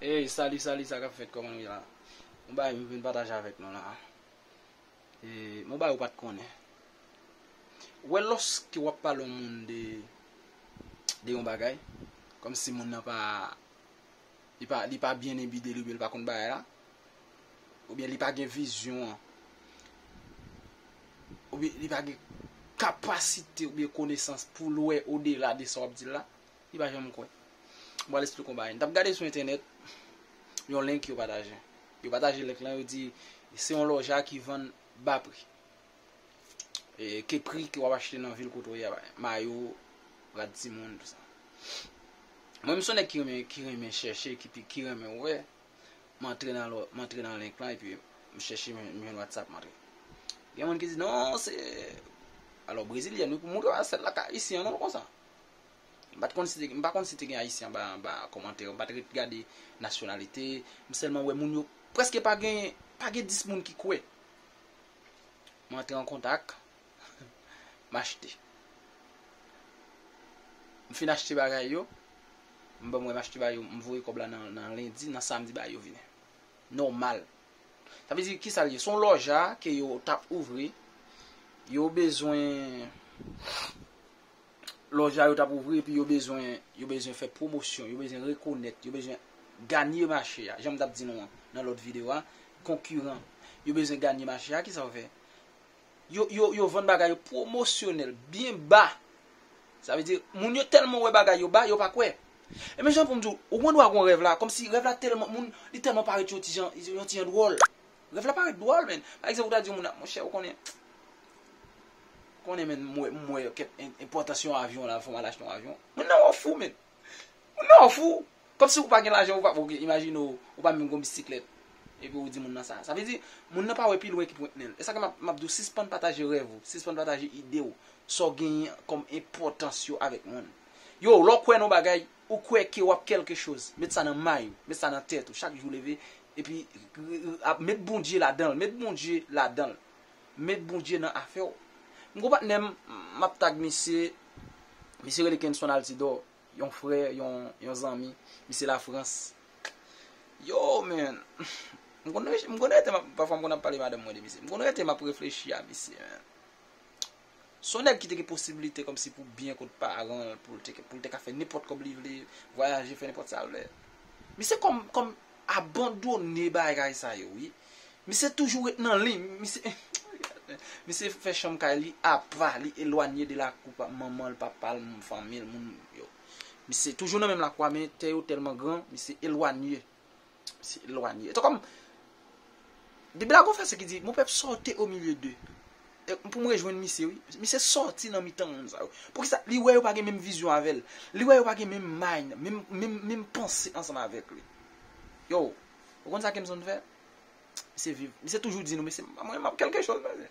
Hey salut salut sa kap fèt koman nou ye la Yon bagay m vin pataje avèk nou la Yon bagay ou pat konnen Ou wè lòske wap pale yon moun de de yon bagay kòm si moun nan pa li pa li pa byen enbide li oubyen li pa konn bagay la oubyen li pa gen vizyon an oubyen li pa gen kapasite oubyen konesans poul wè odela de sa wap dil la Li pa janm kwè. M pral esplike yon bagay. M t ap gade sou entènèt yon link yo pataje. Yo pataje link lan, yo di se yon lòja ki vann ba pri. Ke pri ke w ap achte nan vil kote w ye a, mayo, rad timoun, tout sa. Mwen m son nèg ki renmen chèche, ki renmen wè, m antre nan lò, m antre nan link lan epi m chèche, m jwenn whatsapp m antre. Gen moun ki di non se, alò brezilyèn wi pou m montre w a, sèl la ka ayisyen an non l konsa. M pa t konn si te gen, m pa konn si te gen Ayisyen anba anba kòmantè yo, m pa t ret gade nasyonalite, m sèlman wè moun yo, prèske pa gen, pa gen 10 moun ki kwè. M antre an kontak, m achte. M fin achte bagay yo, m banm wè m achte ba yo, m voye kòb la nan lendi, nan samdi bagay yo vini. Nòmal. Sa vle di, ki sa l ye? Se yon lòja ke yo t ap ouvri, yo bezwen. lòj la yo tap ouvri epi yo bezwen yo bezwen fè pwomosyon, yo bezwen rekonèt, yo bezwen ganye mache a, janm tap di nou an nan lòt videyo a, konkiran, yo bezwen ganye mache a, kisa yo fè? Yo yo yo vann bagay yo pwomosyonèl byen ba, sa vle di moun yo tèlman wè bagay yo ba yo pa kwè. E men jan poum di w, ou gen dwa gen yon rèv la, kòmsi rèv la tèlman moun li tèlman parèt yon ti jan yon ti jan dwòl. Rèv la parèt dwòl menn. Pa egzanp ou ta di yon moun a monchè ou konnen ou konnen menn m wè m wè kèt enpòtans yon avyon la fò m al achte yon avyon. Moun nan wè w fou menn. Moun nan wè w fou. Kòmsi ou pa gen lajan ou pa ok imajine w ou pa menm gen yon bisiklèt epi ou di moun nan sa. Sa vle di moun nan pa wè pi lwen ki pwent nen l. E sa k fè m ap di w sispann pataje rèv ou, sispann pataje ide w, sa w genyen kòm enpòtans yo avèk moun. Yo lè w kwè nan yon bagay. Ou kwè ke w'ap kèlke choz. Met sa nan may ou. Met sa nan tèt ou. Chak jou leve, epi ap met Bondye ladan l. Met Bondye ladan l. Met Bondye nan afè ou. M g'on patnè m, m'ap tag misye. Misye rele Kenson Altidor. Yon frè, yon zanmi. Misye Lafrans. Yo man! M konn rete, pafwa m konn ap pale madanm mwen de misye. M konn rete m'ap reflechi a misye man. Se yon nèg ki te gen posibilite kòmsi pou byen kot paran l, pou l te ka fè nenpòt kòb li vle, vwayaje, fè nenpòt sa l vle. Misye kòm abandone bagay sa yo wi. Misye toujou ret nan liy. Misye fè chanm kay li apa, li elwanye de lakou manman l, papa l, fanmi l, moun yo. Misye toujou nan menm lakou a men tè yo tèlman gran, misye elwanye. Se elwanye. Etan kòm, Bib la gon vèsè ki di, Mon pèp sòti o milye deu. E pou m rejwenn misye wi. Misye sòti nan mitan moun sa yo. Poukisa? Li wè yo pa gen menm vizyon avè l. Li wè yo pa gen menm mind, menm, menm, menm panse ansanm avèk li. Yo, ou konn sa ke m bzwen fè? Misye viv, misye toujou di nou, mesye mwen map kelke choz mesye.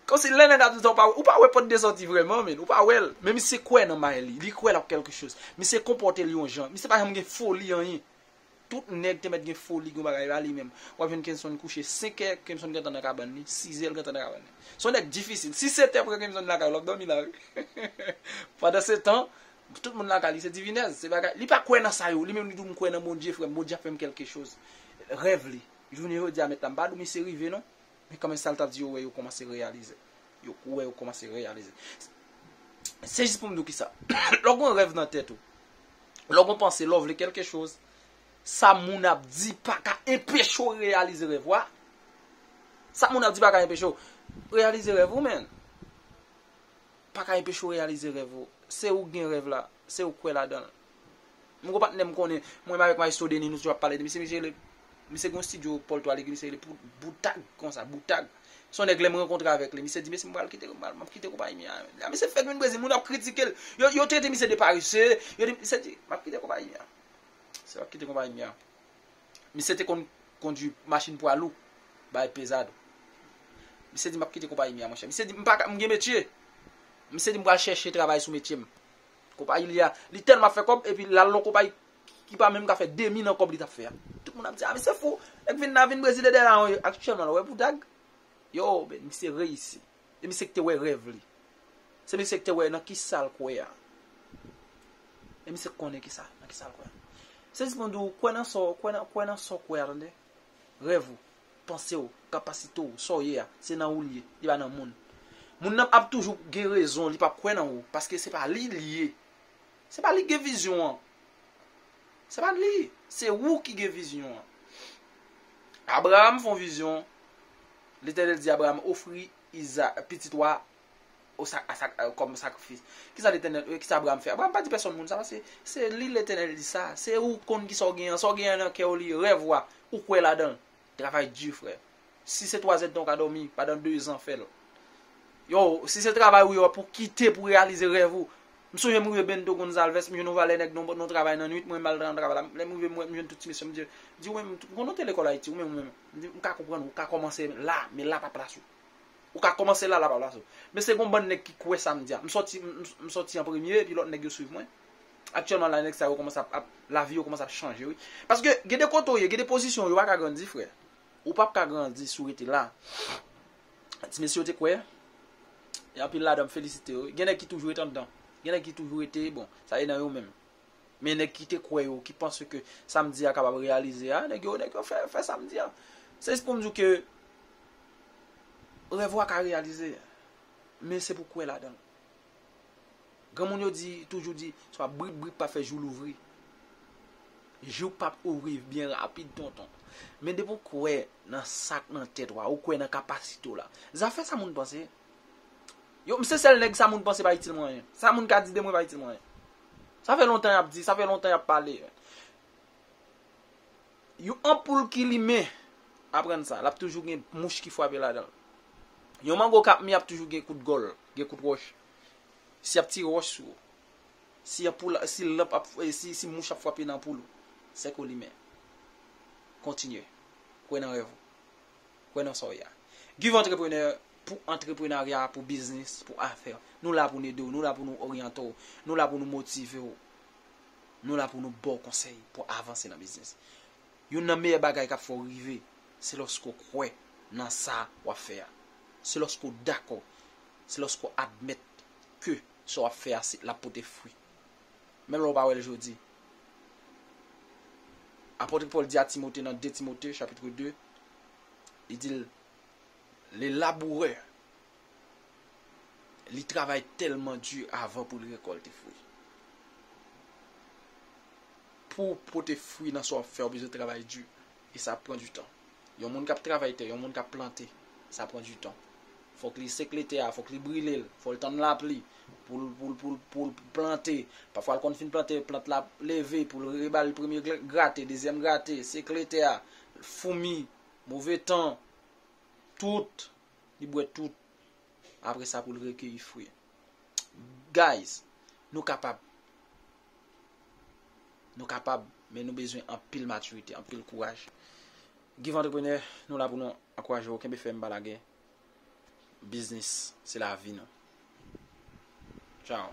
Kon si lè nèg la ap di sa ou pa wè, ou pa wè pòt de sòti vrèman men, ou pa wè l, men misye kwè nan bagay li, li kwè l ap kelke choz. Misye konpòte l yon jan, misye pa janm gen foli anyen. Tout nèg te mèt gen foli, gen bagay, e pa li menm. W ap jwenn Kenson kouche senkè, Kenson gentan nan kabann li, sizè l gentan nan kabann li. Se yon nèg difisil, si sete pre Kenson lakay ou l ap dòmi la wi. Pandan se tan, Tout moun laka li se divinèz, se bagay, li pa kwè nan sa yo, li menm li di w m kwè nan Bondye frè m, Bondye ap fè m kèlke choz. Rèv li, jounen jodi a mèt la m pa di w misye rive non, men kanmenm sa l t ap di yo wè yo kòmanse reyalize. Yo wè yo kòmanse reyalize. Se jis pou m di w kisa, lè w gen yon rèv nan tèt ou, lè w gen yon panse, lè w vle kèlke choz, sa moun ap di pa ka enpeche w reyalize rèv ou a, sa moun ap di pa ka enpeche w reyalize rèv ou menn. paka enpeche w reyalize rèv ou se ou k gen rèv la se ou k kwè ladan l m gon patnè m konnen mwen menm avèk Maestro Denis nou toujou ap pale de misye misye rele misye gen yon stidyo Paul Toit legi misye rele pou Boutag konsa Boutag se yon nèg lè m rankontre avèk li misye di mesye m pral kite m pral m ap kite konpayi mi a lè misye fèk vin Brezil moun ap kritike l yo yo trete misye de parese yo di misye di m ap kite konpayi mi a misye ap kite konpayi mi a Misye te konn kondwi machin pwa lou bay Pezado. Misye di m ap kite konpayi mi a monchè. Misye di m pa ka, m gen metye. Misye di m pral chèche travay sou metye m. Konpayi li a, li tèlman ap fè kòb epi l al nan konpayi ki pa menm ka fè demi nan kòb li t ap fè a. Tout moun ap di a misye fou, nèk vin nan vin brezile dèyè la. Aktyèlman la, ou wè Boudag? Yo, men misye reyisi. Se misye ki te wè rèv li. Se misye ki te wè nan ki sa l kwè a. E misye ki konnen ki sa, nan ki sa l kwè a. Sèvis mwen di w, kwè nan sa w, kwè nan, kwè nan sa w kwè a, tande. Rèv ou, panse w, kapasite w, sa w ye a, se nan ou l ye, li pa nan moun. Moun nan ap toujou gen rezon, li p ap kwè nan ou, paske se pa li l ye. Se pa li ki gen vizyon an. Se pa li, se ou ki gen vizyon an. Abraram fè yon vizyon. Letènèl di Abraam, Ofri Izaak, pitit ou a, kòm sakrifis. Kisa Letènèl, kisa Abraam fè? Abraam pa di pèsòn moun sa, paske se li Letènèl di sa. Se ou k konn kisa ou genyen an. Sa ou genyen an nan kè ou li, rèv ou a, ou kwè ladan l. Travay di frè. Si se twazèd tan ou ka dòmi, pandan dezan fè l. Yo, si se travay ou ye wap ou kite pou reyalize rèv ou. M sonje m rive Bento Gonzalvès, m jwenn yon valè nèg nan travay nan nwit, mwen m al nan travay la. Lè m rive m wè, m jwenn tout ti mesye yo, m di yo, di ou menm, m konnen w te lekòl Ayiti, ou menm, ou menm. M ka konprann ou ka kòmanse la, men la pa plas ou. Ou ka kòmanse la, la pa plas ou. Men se gon bann nèg ki kwè sa m di a. M sòti, m sòti an premye epi lòt nèg yo swiv mwen. Aktyèlman la nèg sa yo kòmanse ap, lavi yo kòmanse ap chanje wi. Paske gen de kote ou ye, gen de pozisyon ou ye ou pa ka grandi frè. Ou pap ka grandi si w rete la. Ti mesye yo te kwè, anpil ladan m felisite yo wi. Gen nèg ki toujou rete anndan. Gen nèg ki toujou rete, bon, sa e nan yo menm. Men nèg ki te kwè yo, ki panse ke sa m di a kapab reyalize a, nèg yo, nèg yo fè, fè sa m di a. Se jis pou m di w ke rèv ou a ka reyalize, men se pou w kwè ladan l. Granmoun yo di, toujou di, swa brik brik pa fè jou louvri. Jou p ap ouvri byen rapid tonton. Men depi w kwè nan sa k nan tèt ou a, ou kwè nan kapasite w la. Zafè sa moun panse. Yo m se sèl nèg sa moun panse pa itil mwen anyen. Sa moun ka di de mwen pa itil mwen anyen. Sa fè lontan y ap di, sa fè lontan y ap pale. Yon anpoul ki limen, aprann sa, l ap toujou gen mouch ki frape ladan l. Yon mango k ap mi ap toujou gen kout gòl, gen kout wòch. Si y ap tire wòch sou ou, si anpoul la, si lanp ap, si mouch ap frape nan anpoul ou, se ke w limen. Kontinye. Kwè nan rèv ou. Kwè nan sa w ye a. Give Entrepreneur pou antreprenarya, pou biznis, pou afè. Nou la pou n ede w, nou la pou nou oryante w, nou la pou nou motive w, nou la pou nou ba w konsèy pou w avanse nan biznis. Youn nan meyè bagay k ap fè w rive, se lòske w kwè nan sa w ap fè a. Se lòske w dakò, se lòske w admèt ke sa w ap fè a l ap pote fwi. Menm lè w pa wè l jodi. Apòtre Pòl di a Timote nan 2 Timote, chapitre 2. Li di l, Le labourè, li travay tèlman di avan pou l rekòlte fwi. Pou w pote fwi nan sa w ap fè, ou bezwen travay di. E sa ap pran di tan. Yon moun k ap travay tè, yon moun k ap plante, sa pran di tan. Fò k li sekle tè a, fò k li brile l, fò l tann lapli pou l, pou l, pou l, pou l plante. Pafwa l konn fin plante, plant la ap leve pou l reba l premye grate, dezyèm grate, sekle tè a, foumi, move tan, tout, li bwè tout, apre sa pou l rekeyi fwi. Guys, nou kapab, nou kapab, men nou bezwen anpil matirite, anpil kouraj. Give Entrepreneur, nou la pou nou ankouraje ou, kenbe fèm pa lage, biznis se lavi nou. Ciao.